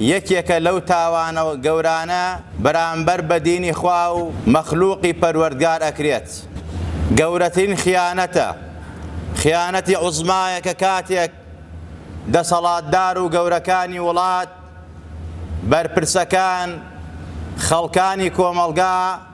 یەکێکە لەو تاوانە گەورانە بەرامبەر بە دینی خوا و مەخلوقی پەروەردگار ئەکرێت گەورەترین خیانەتە خیانەتی عوزمایە کە کاتێک دەسەڵاتدار و گەورەکانی وڵات بەرپرسەکان خەڵکانی کۆمەڵگا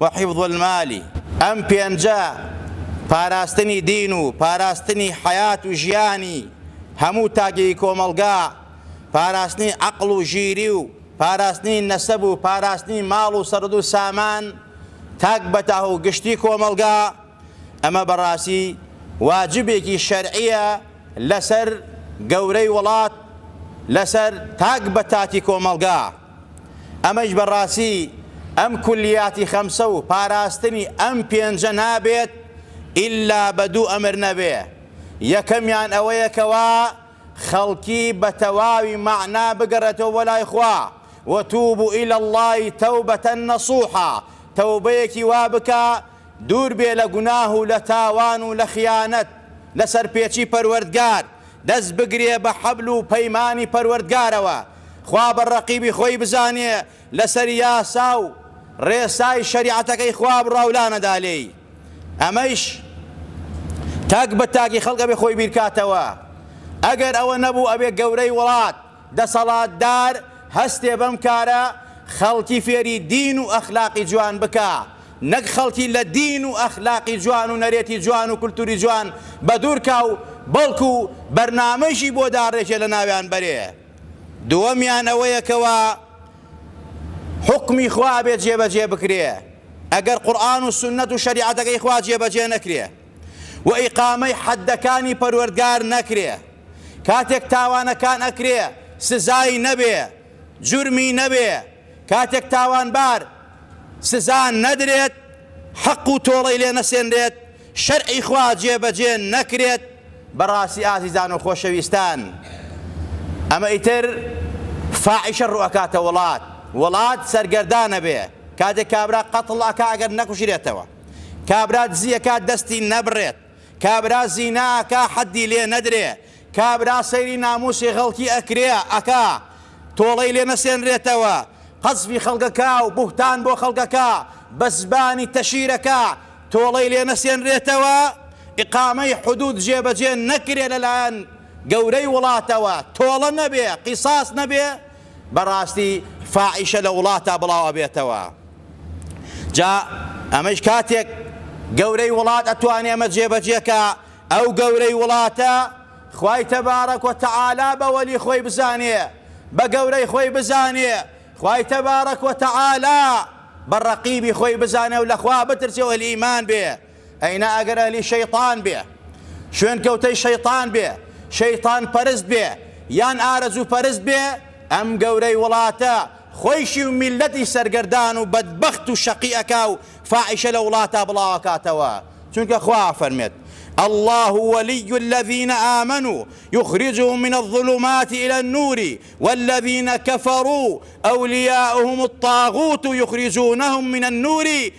و حفظ المالی، ئەم پێنجە پاراستنی دین و پاراستنی حەیات و ژیانی هەموو تاکێکی کۆمەڵگا، پاراستنی عەقڵ و ژیری و پاراستنی نەسەب و پاراستنی ماڵ و سەرد و سامان تاک بە تاک و گشتی کۆمەڵگا، ئەمە بەڕاستی واجبێکی شەرعییە لەسەر گەورەی وڵات، لەسەر تاک بە تاکی کۆمەڵگا. ئەمەیش بە ڕاستی ئەم کولیاتی خەمسە و پاراستنی ئەم پێنجە نابێت ئیلا بە دوو ئەمر نەبێ، یەکەمیان ئەوەیە کەوا خەڵکی بە تەواوی مەعنا بگەڕێتەوە بۆ لای خوا، وتوبوا الی اللە توبە نصوحا، تەوبەیەکی وا بکە دوور بێ لە گوناه و لە تاوان و لە خیانەت لە سەرپێچی پەروەردگار، دەست بگرێ بە حەبل و پەیمانی پەروەردگارەوە، خوا بە ڕەقیبی خۆی بزانێ لەسەر یاسا و ڕێسای شەریعەتەکەی خوا بڕاو لانەدا لێی ئەمەیش تاک بە تاکی خەڵک ئەبێ خۆی بیرکاتەوە ئەگەر ئەوە نەبوو ئەبێ گەورەی وڵات دەسەڵاتدار هەستێ بەم کارە خەڵکی فێری دین و ئەخلاقی جوان بکا نەک خەڵکی لە دین و ئەخلاقی جوان و نەرێتی جوان و کولتوری جوان بەدوورکا و بەڵکو بەرنامەیشی بۆ داڕێژێ لە ناویان بەرێ دووەمیان ئەوەیە کەوا حوکمی خوا ئەبێت جێبەجێ بکرێ ئەگەر قورئان و سنەت و شەریعەتەکەی خوا جێبەجێ نەکرێ و ئیقامەی حەدەکانی پەروەردگار نەکرێ کاتێک تاوانەکان ئەکرێ سزای نەبێ جورمی نەبێ کاتێک تاوانبار سزا نەدرێت، حەق و تۆڵەی لێ نەسێنرێت، شەرعی خوا جێبەجێ نەکرێت. بەڕاستی ئازیزان و خۆشەویستان ئەمە ئیتر فاحیشە ڕوئەکاتە وڵات، وڵات سەرگەردان ئەبێ، کاتێک کابرا قەتڵ ئەکا ئەگەر نەکوژرێتەوە، کابرا دزی ئەکات دەستی نەبڕێت، کابرا زینا ئەکا حەدی لێ نەدرێ کابرا سەیری ناموسی غەڵکی ئەکرێ ئەکا تۆڵەی لێ نەسێنرێتەوە قەزفی خەڵکەکا و بوهتان بۆ خەڵکەکا بە زبانی تەشیرەکا تۆڵەی لێ نەسێنرێتەوە ئیقامەی حدود جێ بەجێ نەکرێ لەلایەن گەورەی وڵاتەوە تۆڵە نەبێ قیساس نەبێ بەڕاستی فاحیشە لە وڵاتا بڵاو ئەبێتەوە جا ئەمەیش کاتێک گەورەی وڵات ئەتوانێ ئەمە جێبەجێکا ئەو گەورەی وڵاتە خوای تەبارەک و تەعالا بە وەلی خۆی بزانێ بە گەورەی خۆی بزانێ خوای تەبارەک و تەعالا بە ڕەقیبی خۆی بزانێ و لەخوا بترسێ و ئەهلی ئیمان بێ ئەینا ئەگەر ئەهلی شەیتان بێ شوێن کەوتەی شەیتان بێ شەیتان پەرست بێ یان ئارەزوو پەرست بێ ئەم گەورەی وڵاتە خۆیشی و میلەتی سەرگەردان و بەدبەخت و شەقی ئەکا و فاحیشە لە وڵاتا بڵاو ئەکاتەوە چونکە خوا ئەفەرمێت اللە ولی الذین آمنوا یخرجهم من الظلمات الى النور والذین کفروا اولیاؤهم الطاغوت یخرجونهم من النور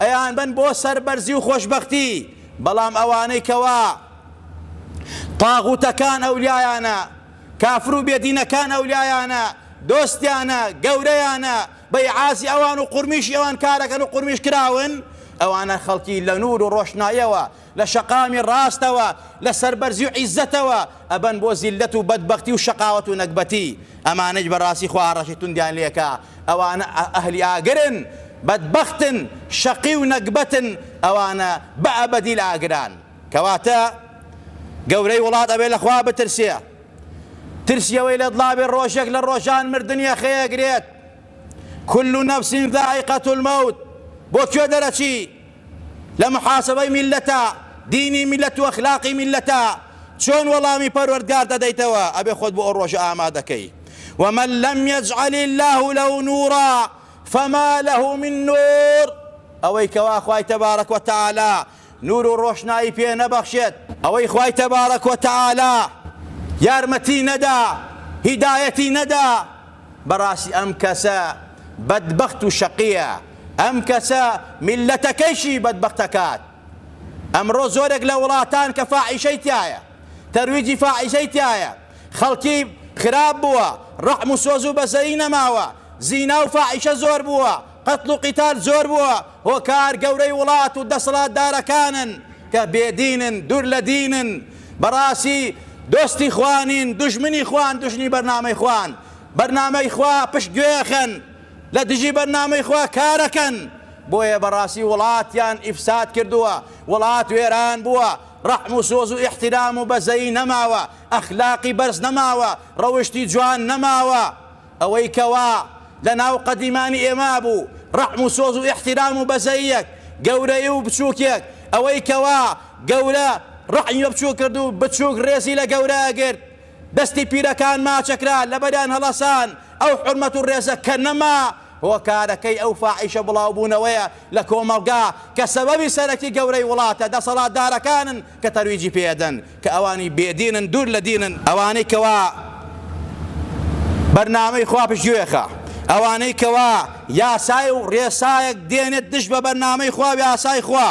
ئەیانبەن بۆ سەربەرزی و خۆشبەختی، بەڵام ئەوانەی کەوا طاغوتەکان ئەولیایانە، کافر و بێ دینەکان ئەولیایانە، دۆستیانە، گەورەیانە، بە ئیعازی ئەوان و قورمیشی ئەوان کارەکەن و قورمیش کراون، ئەوانە خەڵکی لە نور و ڕۆشناییەوە لە شەقامی ڕاستەوە لە سەربەرزی و عیزەتەوە ئەبەن بۆ زیللەت و بەدبەختی و شەقاوەت و نەگبەتی ئەمانەیش بەڕاستی خوا ئاڕاستەی توندیان لێکا ئەوانە ئەهلی ئاگرن بەدبەختن شەقی و نەگبەتن ئەوانە بە ئەبەدی لە ئاگران کەواتە گەورەی وڵات ئەبێ لە خوا بترسێ ترسی ئەوەی لە دڵابێ ڕۆژێک لە ڕۆژان مردنی ئەخەیەگرێت كل نفس ذائقة الموت بۆ کوێ دەرەچی لە محاسەبەی میللەتە، دینی میللەت و ئەخلاقی میللەتە، چۆن وەڵامی پەروەردگار دەدەیتەوە، ئەبێ خۆت بۆ ئەو ڕۆژە ئامادەکەی، ومن لم یجعل اللە لە نورا فما لە من نور، ئەوەی کەوا خوای تبارک و تعالی نور و ڕۆشنایی پێ نەبەخشێت، ئەوەی خوای تبارک و تعالی یارمەتی نەدا، هیدایەتی نەدا، بەڕاستی ئەم کەسە بەدبەخت و شەقییە، ئەم کەسە میللەتەکەیشی بەدبەخت ئەکات. ئەمڕۆ زۆرێک لە وڵاتان کە فاحیشەی تیایە، تەرویجی فاحیشەی تیایە، خەڵکی خراپ بووە، ڕەحم و سۆز و بەزەیی نەماوە، زینا و فاحیشە زۆر بووە، قەتڵ و قیتال زۆر بووە، هۆکار گەورەی وڵات و دەسەڵاتدارەکانن کە بێ دینن، دوور لە دینن، بەڕاستی دۆستی خوا نین، دوژمنی خوان، دوژنی بەرنامەی خوان، بەرنامەی خوا پشت گوێخن، لە دژی بەرنامەی خوا کارەکەن، بۆیە بەڕاستی وڵاتیان ئیفساد کردووە، وڵات وێران بووە، ڕەحم و سۆز و ئیحتیرام و بەزەیی نەماوە، ئەخلاقی بەرز نەماوە، ڕەوشتی جوان نەماوە. ئەوەی کەوا لە ناو قەدیمانی ئێمە بوو، ڕەحم و سۆز و ئیحتیرام و بەزەییەک، گەورەیی و بچووکێک، ئەوەی کەوا گەورە ڕەحمی بە بچووک کرد و بچووک ڕێزی لە گەورە ئەگرت، دەستی پیرەکان ماچەکرا، لەبەریان هەڵەسان، ئەو حورمەت و ڕێزە کە نەما، هۆکارەکەی ئەو فاحیشە بڵاوبوونەوەیە لە کۆمەڵگا کە سەبەبی سەرەکی گەورەی وڵاتە دەسەڵاتدارەکانن، کە تەرویجی پێ ئەدەن کە ئەوانی بێ دینن دوور لە دینن، ئەوانەی کەوا بەرنامەی خوا پشتگوێخە، ئەوانەی کەوا یاسای و ڕێسایەک دێنێت دژ بە بەرنامەی خوا و یاسای خوا،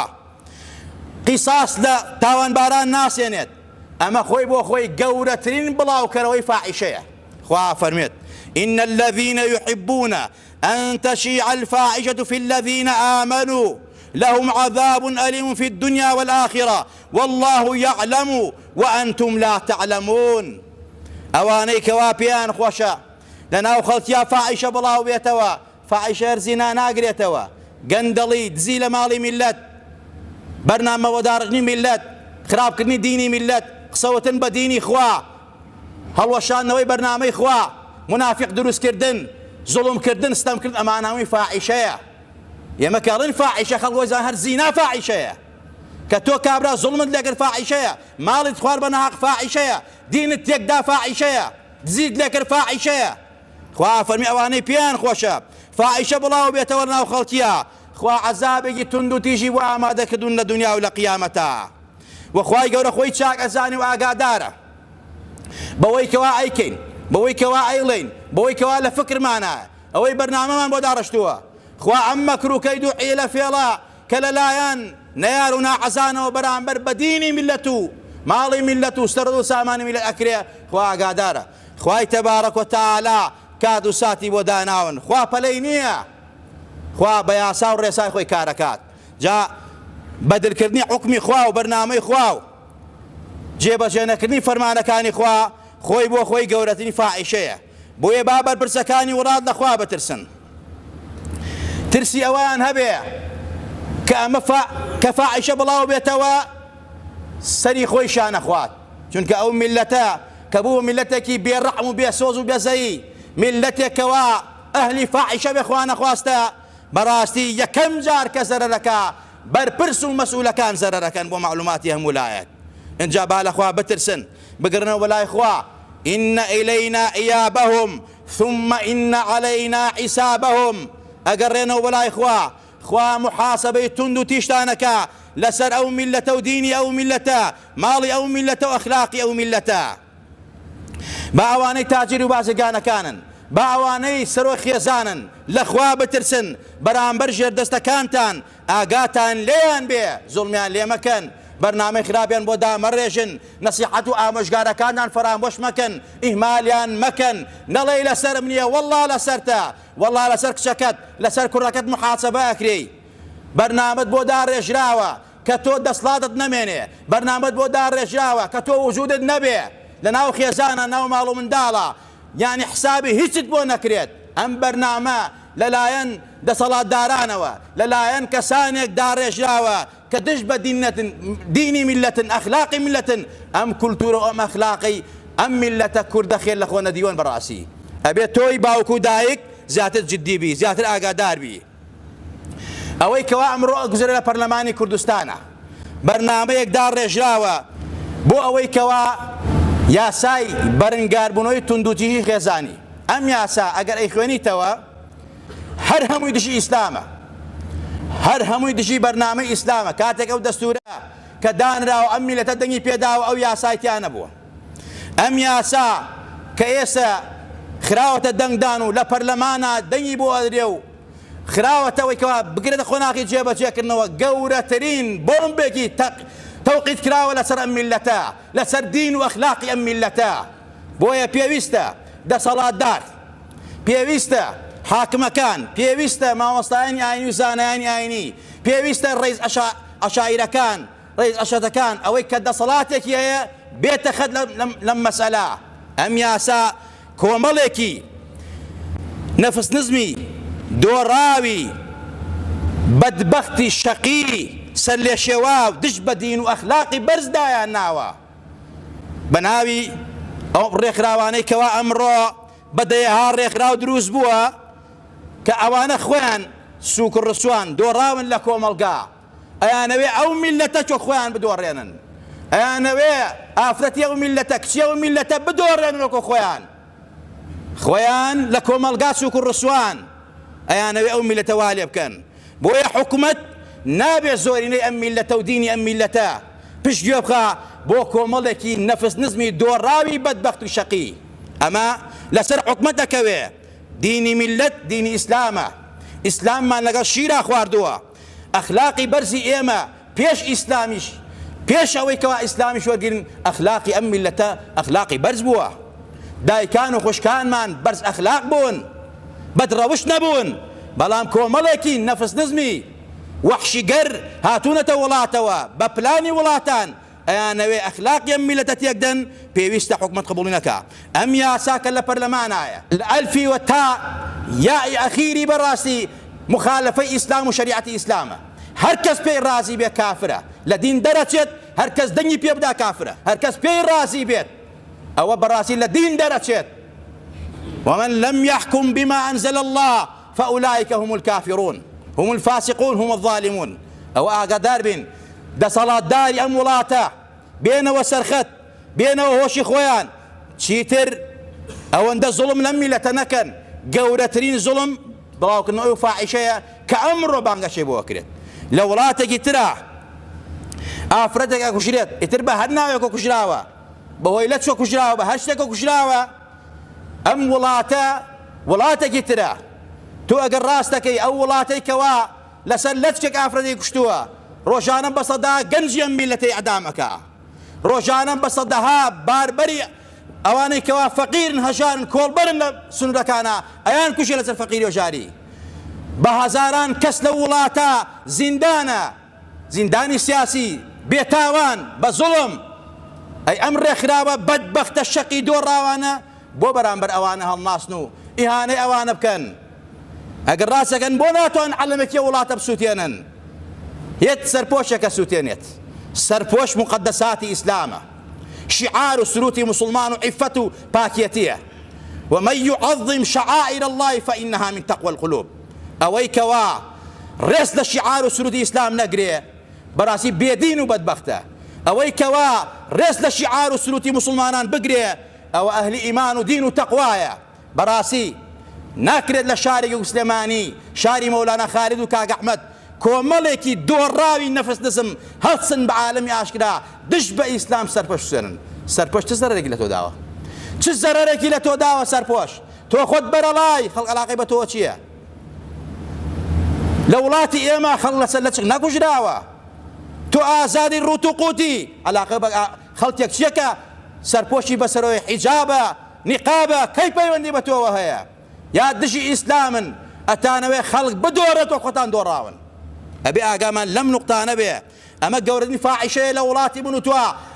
قیساس لە تاوانباران ناسێنێت، ئەمە خۆی بۆ خۆی گەورەترین بڵاوکەرەوەی فاحیشەیە، خوا ئەفەرموێت، ان الذین یحبون ان تشیع الفاحشە فی الذین آمنوا لهم عذاب الیم فی الدنیا والآخرە واللە یعلم وانتم لا تعلمون ئەوانەی کەوا پێیان خۆشە لەناو خەڵکیا فاحشە بڵاو بێتەوە فاحشە هەر زینا ناگرێتەوە گەندەڵی دزی لە ماڵی میللەت بەرنامەوەداڕژنی میللەت خراپکردنی دینی میللەت قسەوتن بە دینی خوا هەڵوەشاندنەوەی بەرنامەی خوا، مونافیق دروستکردن، زوڵم کردن، ستەم کرد ئەمانە هەمووی فاحیشەیە. ئێمە کە ئەڵێین فاحیشە خەڵک وای زان هەر زینا فاحیشەیە. کە تۆ کابرا زوڵمت لێکرد فاحیشەیە، ماڵیت خوار بە ناهەق فاحیشەیە، دینت تێکدا فاحیشەیە، دزیت لێکرد فاحیشەیە. خوا فەرمی ئەوانەی پێیان خۆشە فاحیشە بڵاو بێتەوە لە ناو خەڵکیا خوا عەزابێکی توند و تیژی بۆ ئامادە کردوون لە دونیا و لە قیامەتا. وە خوای گەورە خۆی چاک ئەزانێ و ئاگادارە بەوەی کەوا ئەیکەین بەوەی کەوا ئەیڵێین بەوەی کەوا لە فکرمانە ئەوەی بەرنامەمان بۆ داڕشتووە خوا ئەم مەکر و کەید و حیلە فێڵە کە لە لایەن نەیار و ناحەزانەوە بەرامبەر بە دینی میللەت و ماڵی میللەت و سەرد و سامانی میللەت ئەکرێ خوا ئاگادارە خوای تەبارەک و تەعالا کات و ساتی بۆ داناون خوا پەلەی نییە خوا بە یاسا و ڕێسای خۆی کارەکات جا بەدرکردنی حوکمی خوا و بەرنامەی خوا و جێبەجێنەکردنی فەرمانەکانی خوا خۆی بۆ خۆی گەورەترین فاحیشەیە، بۆیە با بەرپرسەکانی وڵات لە خوا بترسن ترسی ئەوەیان هەبێ کە ئەمە کە فاحیشە بڵاوبێتەوە سەری خۆی شانەخوات، چونکە ئەو میللەتە کە بوو میللەتێکی بێ ڕەحم و بێ سۆز و بێزەیی، میللەتێک کەوا ئەهلی فاحیشە بێ خوانەخواستە، بەڕاستی یەکەم جار کە زەرەرەکا بەرپرس و مەسئولەکان زەرەرەکەن بۆ مەعلوماتی هەموو لایەک ئینجا با لەخوا بترسن بگەڕێنەوە بەلای خوا ان الینا ایابهم ثم ان علینا حسابهم ئەگەڕێنەوە بەلای خوا خوا محاسبەی توند و تیشتانەکە لەسەر ئەو میلەتە و دینی ئەو میلەتە ماڵی ئەو میلەتە و ئەخلاقی ئەو میلەتە با ئەوانەی تاجر و بازرگانەکانن، با ئەوانەی سەرۆک خێزانن لە خوا بترسن، بەرامبەر ژێردەستەکانتان ئاگاتان لێیان بێ، زوڵمیان لێ مەکەن، بەرنامەی خراپیان بۆ دامەڕێژن، نەسیحەت و ئامۆژگارەکانتان فەرامۆش مەکەن، ئیهمالیان مەکەن، نەڵێی لەسەرم نیە، وەڵڵا لەسەرتە، وەڵڵا لەسەر کچەکەت، لەسەر کوڕەکەت موحاسەبە ئەکرێی، بەرنامەت بۆ داڕێژراوە، کە تۆ دەسڵاتت نەمێنێ بەرنامەت بۆ داڕێژراوە کە تۆ وجودت نەبێ لە ناو خێزانە ناو ماڵ و منداڵە یانی حسابی هیچت بۆ نەکرێت ئەم بەرنامە لە لایەن دەسەڵاتدارانەوە لە لایەن کەسانێک داڕێژراوە کە دژ بە دیننەتن دینی میللەتن ئەخلاقی میللەتن ئەم کولتورە و ئەم ئەخلاقەی ئەم میللەتە کوردە خێر لە خۆ نەدیوەن بەڕاسی ئەبێ تۆی باوک و دایک زیاتر جدی بی زیاتر ئاگادار بی. ئەوەی کەوا ئەمڕۆ ئەگوزەرێ لە پەرلەمانی کوردستانە بەرنامەیەک داڕێژراوە بۆ ئەوەی کەوا یاسای بەرنگاربوونەوەی توندوتیژی خێزانی ئەم یاسا ئەگەر ئەیخوێنیتەوە هەر هەمووی دژی ئیسلامە هەر هەمووی دژی بەرنامەی ئیسلامە کاتێک ئەو دەستورە کە دانراوە ئەم میلەتە دەنگی پێداوە ئەو یاسایتیانە بووە ئەم یاسا کە ئێستە خراوەتە دەنگدان و لە پەرلەمانا دەنگی بۆ ئەدرێ و خراوەتەوەی کەوا بگرێتە قۆناغی جێبەجێکردنەوە، گەورەترین بۆمبێکی تەوقیت کراوە لەسەر ئەم میللەتە، لەسەر دین و ئەخلاقی ئەم میللەتە. بۆیە پێویستە دەسەڵاتدار، پێویستە حاکمەکان، پێویستە مامۆستایانی ئاینی و زانایانی ئاینی، پێویستە ڕیز عەشایرەکان، ڕیز ئەشەتەکان ئەوەی کە دەسەڵاتێکی هەیە بێتە خەت لەم مەسەلە ئەم یاسا کۆمەڵێکی نەفسنزمی دۆڕاوی بەدبەختی شەقی سەرلێشێواو دژ بە دین و ئەخلاقی بەرز دایان ناوە بە ناوی ئەو ڕێکخراوانەی کەوا ئەمڕۆ بە دەیەها ڕێکخراو دروست بووە کە ئەوانە خۆیان سوک ڕسوان دۆڕاون لە کۆمەڵگا ئەیانەوێ ئەو میللەتە کە خۆیان بدۆڕێنن، ئەیانەوێ ئافرەتی ئەو میللەتە، کچی ئەو میللەتە بدۆڕێنن وەکۆ خۆیان، خۆیان لە کۆمەڵگا سوک و ڕسوان، ئەیانەوێ ئەو میللەتە وا لێ بکەن، بۆیە حکومەت نابێ زۆرینەی ئەم میللەتە و دینی ئەم میللەتە پشت گوێ بخا بۆ کۆمەڵێکی نەفس نزمی دۆڕاوی بەدبەخت و شەقی، ئەمە لەسەر حکومەت ئەکەوێ، دینی میللەت دینی ئیسلامە، ئیسلاممان لەگەڵ شیرا خواردووە. ئەخلاقی بەرزی ئێمە پێش ئیسلامیش پێش ئەوەی کەوا ئیسلامیش وەرگرن ئەخلاقی ئەم میللەتە ئەخلاقی بەرز بووە دایکان و خوشکانمان بەرز ئەخلاق بوون بەد ڕەوشت نەبوون بەڵام کۆمەڵێکی نەفس نزمی وەحشیگەر هاتوونەتە وڵاتەوە بە پلانی وڵاتان ئەیانەوێ ئەخلاقی ئەم میلەتە تێک دەن پێویستە حکومەت قبوڵی نەکا ئەم یاسا کە لە پەرلەمانایە. لە ئەلفی وە تا یائی ئەخیری بەڕاستی مخالفەی ئیسلام و شەریعەتی ئیسلامە هەر کەس پێی ڕازی بێ کافرە لە دین دەرەچێت هەر کەس دەنگی پێ بدا کافرە هەر کەس پێی ڕازی بێت ئەوە بەڕاستی لە دین دەرەچێت ومن لم یحکم بما انزل اللە فاولائک هم الکافرون هم الفاسقون هم الظالمون ئەوە ئاگادار بین دەسەڵاتداری ئەم وڵاتە بێنەوە سەرخەت بێنەوە هۆشی خۆیان چیتر ئەوەندە زوڵم لەم میلەتە نەکەن گەورەترین زوڵم بڵاوکردنەوە ئەو فاحیشەیە کە ئەمڕۆ بانگەشەی بۆ ئەکرێت لە وڵاتێکی ترا ئافرەتێک ئەکوژرێت ئیتر بە هەر ناوێکەوە کوژراوە بەهۆی لەچکە کوژراوە بە هەر شتێکەوە کوژراوە ئەم وڵاتە وڵاتەکی ترە تۆ ئەگەر ڕاست دەکەی ئەو وڵاتەی کەوا لەسەر لەتکێک ئافرەتی کوشتووە ڕۆژانە بە سەدا گەنجی ئەم میلەتەی ئیعدام ئەکا ڕۆژانە بە سەدەها باربەری ئەوانەی کەوا فەقیرن هەژارن کۆڵبەرن لە سنوورەکانە ئەیان کوژێ لەسەر فەقیری و ژاری بە هەزاران کەس لەو وڵاتە زیندانە زیندانی سیاسی بێ تاوان بە زوڵم. ئەی ئەم ڕێکخراوە بەدبەختە شەقی دۆڕاوانە بۆ بەرامبەر ئەوانە هەڵناسن و ئیهانەی ئەوانە بکەن؟ ئەگەر ڕاست دەکەن بۆ ناتوان عەلەمێکی ئەو وڵاتە بسوتێنن؟ یەت سەرپۆشێکە سوتێنێت. سەرپۆش موقەدەساتی ئیسلامە. شیعار و سروتی موسڵمان و عیفەت و پاکێتیە. ومن یعظم شعائر اللە فانها من تقوی القلوب. ئەوەی کەوا ڕێز لە شیعار و سرودی ئیسلام نەگرێ بەڕاستی بێ دین و بەدبەختە، ئەوەی کەوا ڕێز لە شیعار و سروتی موسڵمانان بگرێ ئەوە ئەهلی ئیمان و دین و تەقوایە، بەڕاستی ناکرێت لە شارێکی وەک سلێمانی شاری مەولانا خالید و کاک ئەحمەد کۆمەڵێکی دۆڕاوی نەفس نزم هەڵسن بە عالەمی ئاشکرا دژ بە ئیسلام سەرپۆش بسوێنن، سەرپۆش چ زەرەرێکی لە تۆ داوە؟ چ زەرەرێکی لە تۆ داوە سەرپۆش؟ تۆ خۆت بەرەڵای خەڵک عەلاقەی بە تۆ چیە لە وڵاتی ئێمە خەڵک لەسەر لەچک نەکوژراوە تۆ ئازادی ڕوت و قوتی عەلاقە بە خەڵکێک چیە کە سەرپۆشی بەسەرۆی حیجابە نیقابە کەی پەیوەندی بە تۆوە هەیە یا دژی ئیسلامن ئەتانەوێ خەڵک بدۆرێتەوە خۆتان دۆڕاون ئەبێ ئاگامان لەم نوقتانە بێ ئەمە گەورەترین فاحیشەیە لە وڵاتی من و تۆ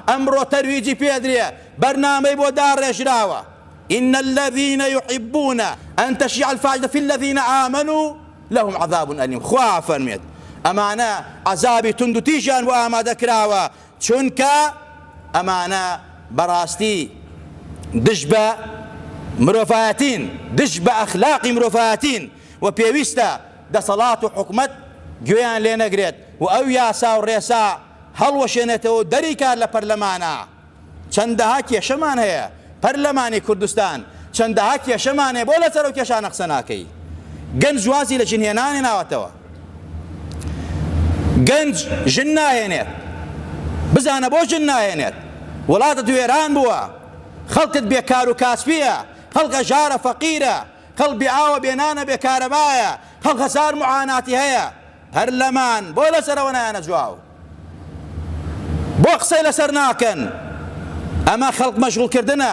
ئەمڕۆ تەرویجی پێ ئەدرێ بەرنامەی بۆ داڕێژراوە ان الذین یحبون ان تشیع الفاحشە فی الذین آمنوا لهم عذاب الیم خوا ئەفەرموێت ئەمانە عەزابی توندوتیژیان بۆ ئامادەکراوە چونکە ئەمانە بەڕاستی دژ بە مرۆڤایەتین دژ بە ئەخلاقی مرۆڤایەتین و پێویستە دەسەڵات و حکومەت گوێیان لێ نەگرێت و ئەو یاسا و ڕێسا هەڵوەشێنێتەوە و دەریکات لە پەرلەمانە چەندەها کێشەمان هەیە پەرلەمانی کوردستان چەندەها کێشەمان هەیە بۆ لەسەر ئەو کێشانە قسە ناکەی گەنج وازی لە ژن هێنانێ ناوەتەوە گەنج ژن ناهێنێت بزانە بۆ ژن ناهێنێت وڵاتت وێران بووە خەڵکت بێکار و کاسپیە خەڵکە ژارە فەقیرە کەڵ بێ ئاوە بێ نانە بێ کارەبایە کەڵ هەزار معاناتی هەیە پەرلەمان بۆ لەسەرەوە نایەنە جواو بۆ قسەی لەسەر ناکەن ئەمە خەڵک مەشغول کردنە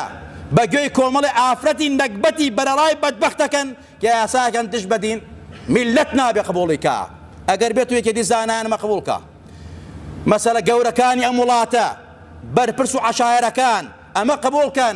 بە گوێی کۆمەڵی ئافرەتی نەگبەتی بەرەڵای بەدبەختەکەن کە یاساکەن دژ بەدین میلەت نابێ قبوڵی کا ئەگەر بێت و یەکێتی زانایان مەقبوڵ کا مەسەلە گەورەکانی ئەم وڵاتە بەرپرس و عەشایەرەکان ئەمە قبوڵ کەن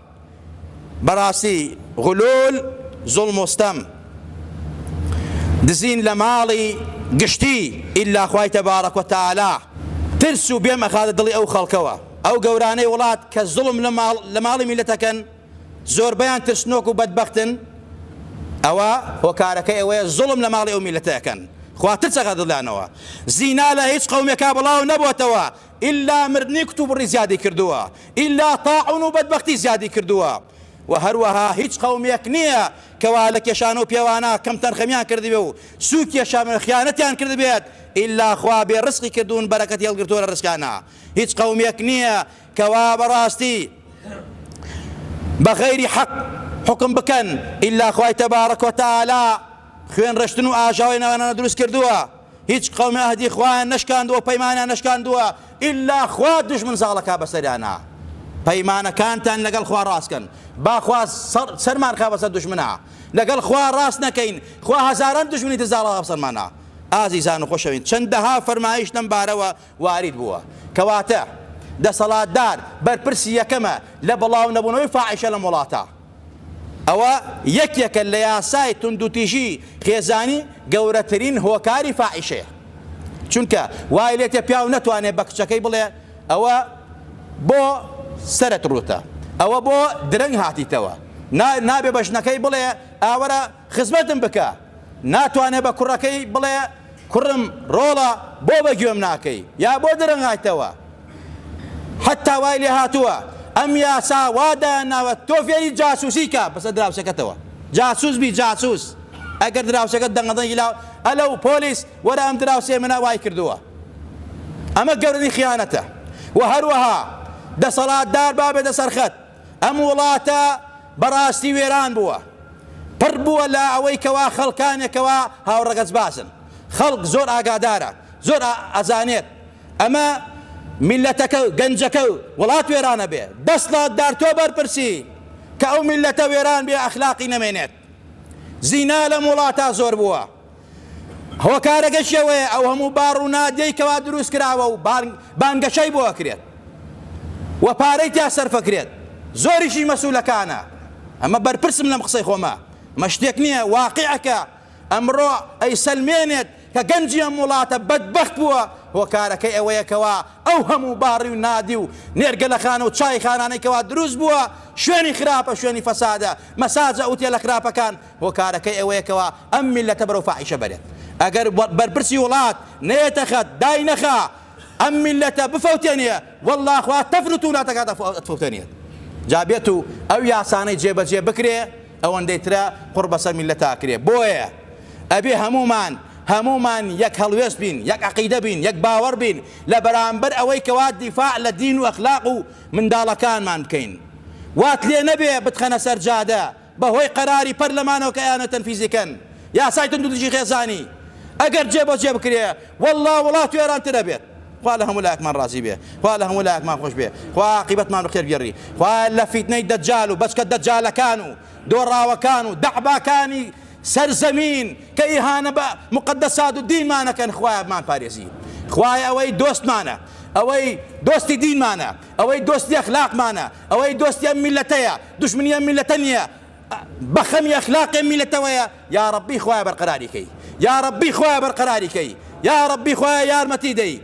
بەڕاستی غلول زوڵم و ستەم دزین لە ماڵی گشتی ئیلا خوای تبارک و تعالی ترس و بێم ئەخاتە دڵی ئەو خەڵکەوە ئەو گەورانەی وڵات کە زوڵم لە ماڵی میلەت ئەکەن زۆربەیان ترسنۆک و بەدبەختن ئەوە هۆکارەکە ئەوەیە زوڵم لە ماڵی ئەو میلەتە ئەکەن خوا ترس ئەخاتە دڵیانەوە زینا لە هیچ قەومێکا بڵاو نەبۆتەوە ئیلا مردنی کتوپڕی زیادی کردووە، ئیلا تاعون و بەدبەختی زیادی کردووە و هەروەها هیچ قەومێک نییە کە وا لە کێشانە و پێوانە کەمتەرخەمیان کردبێ و سوو کێشان و خیانەتیان کردبێت، ئیلا خوا بێ ڕزقی کردوون بەرەکەتی هەڵگرتووە لە ڕزقیانا، هیچ قەومێک نییە کە وا بە ڕاستی بە غەیری حەق حوکم بکەن، ئیلا خوای تبارک و تعالی خوێن ڕشتن و ئاژاوەی ناوانانا دروست کردووە. هیچ قەومێ ئەهدی خوایان نەشکاندووە و پەیمانیان نەشکاندووە ئیلا خوا دوژمن زاڵە کا بەسەریانا پەیمانەکانتان لەگەڵ خوا ڕاست کەن با خوا سەرمان خا بەسەر دوژمنا لەگەڵ خوا ڕاست نەکەین خوا هەزاران دوژمنی تر زاڵە بەسەرمانا ئازیزان و خۆشەوین چەندەها فەرمایش لەم بارەوە وارد بووە کەواتە دەسەڵاتدار بەرپرسی یەکەمە لە بڵاونەبوونەوەی فاعیشە لەم وڵاتە ئەوە یەکێکە لە یاسای توندوتیژی خێزانی گەورەترین هۆکاری فاحیشەیە چونکە وای لێتێ پیاو نەتوانێ بە کچەکەی بڵێ ئەوە بۆ سەرت ڕوتە ئەوە بۆ درەنگ هاتیتەوە نابێ بە ژنەکەی بڵێ ئاوەرە خزمەتم بکە ناتوانێ بە کوڕەکەی بڵێ کوڕم ڕۆڵە بۆ بە گوێم ناکەی یا بۆ درەنگایتەوە حەتا وای لێ هاتووە ئەم یاسا وا دایانناوە تۆ فێری جاسوسی کە بەسە دراوسەکەتەوە جاسوس بی جاسوس ئەگەر دراوسەکە دەنگەدەنگی لا ئەلە و پۆلیس وەرە ئەم دراوسێ منە وای کردووە ئەمە گەورەی خیانەتە و هەروەها دەسەڵاتدار بابێتە سەرخەت ئەم وڵاتە بەڕاستی وێران بووە پڕ بووە لە ئەوەی کەوا خەڵکانێک کەوا هاوڕەگەزبازن خەڵک زۆر ئاگادارە زۆر ئەزانێت ئەمە میلەتەکە و گەنجەکە و وڵات وێرانە بێ دەسڵات دار تۆ بەرپرسی کە ئەو میلەتە وێران بێ ئەخلاقی نەمێنێت زینا لەم وڵاتە زۆر بووە. هۆکارەکەشی ئەوەیە ئەو هەموو باڕ و نادیەی کەوا دروست کراوە و بانگەشەی بۆ ئەکرێت و پارەی تیا سەرف ئەکرێت زۆریشی مەسولەکانە ئەمە بەرپرسم لەم قسەی خۆمە مە شتێک نییە واقعەکە ئەمڕۆ ئەی سەلمێنێت کە گەنجی ئەم وڵاتە بەدبەخت بووە هۆکارەکەی ئەوەیە کەوا ئەو هەموو باڕی و نادی و نێرگەلەخانە و چای خانانەی کەوا دروست بووە شوێنی خراپە شوێنی فەسادە مەساجە ئوتێلە خراپەکان هۆکارەکەی ئەوەیە کەوا ئەم میللەتە بەرەو فاحیشە بەرێت ئەگەر بەرپرسی وڵات نەیەتە خەت دای نەخا ئەم میللەتە بفەوتێنێ واللە خوا تەفرت و ناتەکات ئەتفەوتێنێت جا بێت و ئەو یاسانەی جێبەجێ بکرێ ئەوەندەی ترە قوڕ بەسەر میللەتا ئەکرێ بۆیە ئەبێ هەموومان هەموومان یەک هەڵوێست بین یەک عقیدە بین یەک باوەڕ بین لە بەرامبەر ئەوەی کەوا دیفاع لە دین و ئەخلاق و منداڵەکانمان بکەین وات لێ نەبێ بتخەنە سەر جادە بە هۆی قەراری پەرلەمانەوە کە ئەیانەوێت تەنفیزی کەن یاسای توندوتیژی خێزانی ئەگەر جێ بە جێ بکرێ وەڵڵا وڵات وێران تر ئەبێت خوا لە هەموو لایەکمان ڕازی بێ خوا لە هەموو لایەکمان خۆش بێ خوا عاقیبەتمان بە خێر بگێڕی خوایە لە فیتنەی دەجال و بەچکە دەجالەکان و دۆڕاوەکان و دەعباکانی سەر زەمین کە ئیهانە بە موقەدەسات و دینمان ئەکەن خوایە بمان پارێزی خوایە ئەوەی دۆستمانە ئەوەی دۆستی دینمانە ئەوەی دۆستی ئەخلاقمانە ئەوەی دۆستی ئەم میلەتەیە دوشمنی ئەم میلەتە نیە بەخەمی ئەخلاقی ئەم میلەتەوەیە یاڕەبی خوایە بەرقەراری کەی یاڕەبی خوایە بەرقەراری کەی یاڕەبی خوایە یارمەتی دەی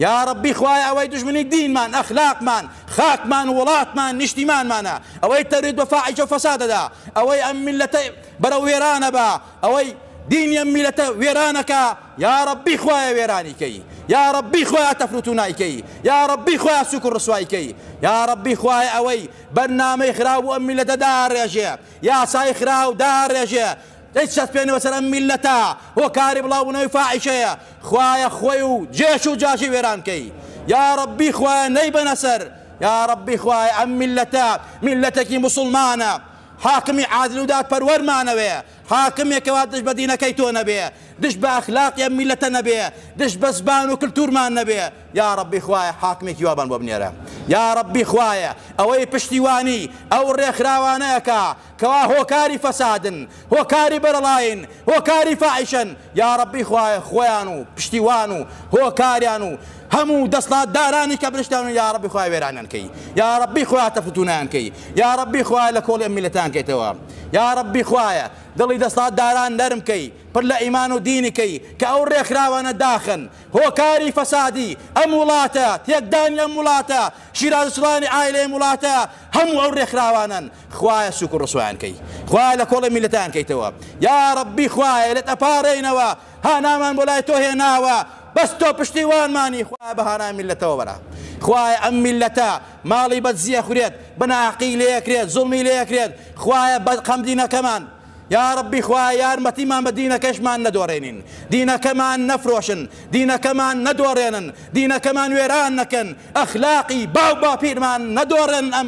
یاڕەبی خوایە ئەوەی دوژمنی دینمان ئەخلاقمان خاکمان وڵاتمان نیشتیمانمانە ئەوەی تەرید بە فاحیشە و فەسادەدا ئەوەی ئەم میلەتە بەرەو وێرانەبا ئەوەی دینی ئەم میلەتە وێرانەکا یاڕەبی خوایە وێرانی کەی یاڕەبی خوایە تەفروتونای کەی یاڕەبی خوایە سوک و ڕسوای کەی یاڕەبی خوایە ئەوەی بەرنامەی خراو بۆ ئەم میلەتە داڕێژێ یاسای خراو داڕێژێ دەیچەسپێنەوە سەر ئەم میلەتە هۆکاری بڵاوبوونەوەی فاحیشەیە خوایە خۆی و جێش و جاشی وێران کەی یاڕەبی خوایە نەیبەنە سەر یاڕەبی خوایە ئەم میلەتە میلەتێکی موسڵمانە حاکمی عادل و دادپەروەرمانەوێ، حاکمێک کەوا دژ بە دینەکەی تۆ نەبێ، دژ بە ئەخلاقی ئەم میللەتە نەبێ، دژ بە زبان و کلتورمان نەبێ، یا رەبی خوایە حاکمێکی وابان بۆ بنێرە، یا رەبی خوایە ئەوەی پشتیوانی ئەو رێکخراوانە ئەکا کەوا هۆکاری فەسادن، هۆکاری بەرەڵایین، هۆکاری فاحیشەن، یاڕەبی خوایە خۆیان و پشتیوان و هۆکاریان و هەموو دەسڵاتدارانی کە برشتان و یاڕەبی خوای وێرانیان کەی یاڕەبی خوای تەفتونیان کەی یاڕەبی خوای لە کۆڵی ئەم میلەتان کەیتەوە یاڕەبی خوایە دڵی دەسڵاتداران نەرم کەی پر لە ئیمان و دینی کەی کە ئەو ڕێکخراوانە داخن هۆکاری فەسادی ئەم وڵاتە تێکدانی ئەم وڵاتە شیرازسڵانی ئایلەی ئەم وڵاتە هەموو ئەو ڕێکخراوانەن خوایە سوکو ڕسوایان کەی خوایە لە کۆڵێ میلەتان کەیتەوە یا ڕبی خوایە لەت ئەپارێینەوە هانامان بۆ لای تۆ هێناوە بەس تۆ پشتیوانمانی خوایە بە هانای میلەتەوە بەرە خوایە ئەم میلەتە ماڵی بەدزیە خورێت بەناقی لەکرێت زڵمی لەکرێت خوایە بەد قەم دینەکەمان یا ڕبی خوا یارمەتیمان بە دینەکەشمان نەدۆڕێنین دینەکەمان نەفرۆشن دینەکەمان نەدۆڕێنن دینەکەمان وێران نەکەن ئەخلاقی باو باپیرمان نەدۆڕێن ئەم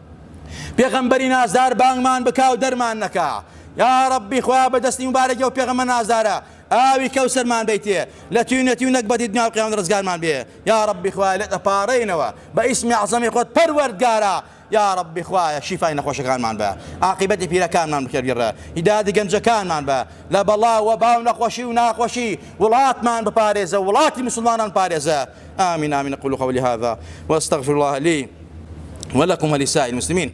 پێغەمبەری نازدار بانگمان بکا و دەرمان نەکا یا ربی خویا بە دەستی مبارەکی و پێغەمە نازدارە ئاوی کەوسەرمان بیتێ لە توینەتی و نەکبەتی دنیا و قیامەت ڕزگارمان بێ یا ربی خوای لێت ئەپارەینەوە بە ئیسمی عەزەمی خۆت پەروەردگارە یا ربی خوایە شیفای نەخۆشەکانمان بە عاقبەتی پیرەکانمان بکەبیڕە هیدادی گەنجەکانمان بە لە بەڵا و باو نەخۆشی و ناخۆشی وڵاتمان بپارێزە وڵاتی مسلمانان پارێزە آمین آمین اقول قولی هذا واستغفر الله لی ولکم ولی سائر المسلمین.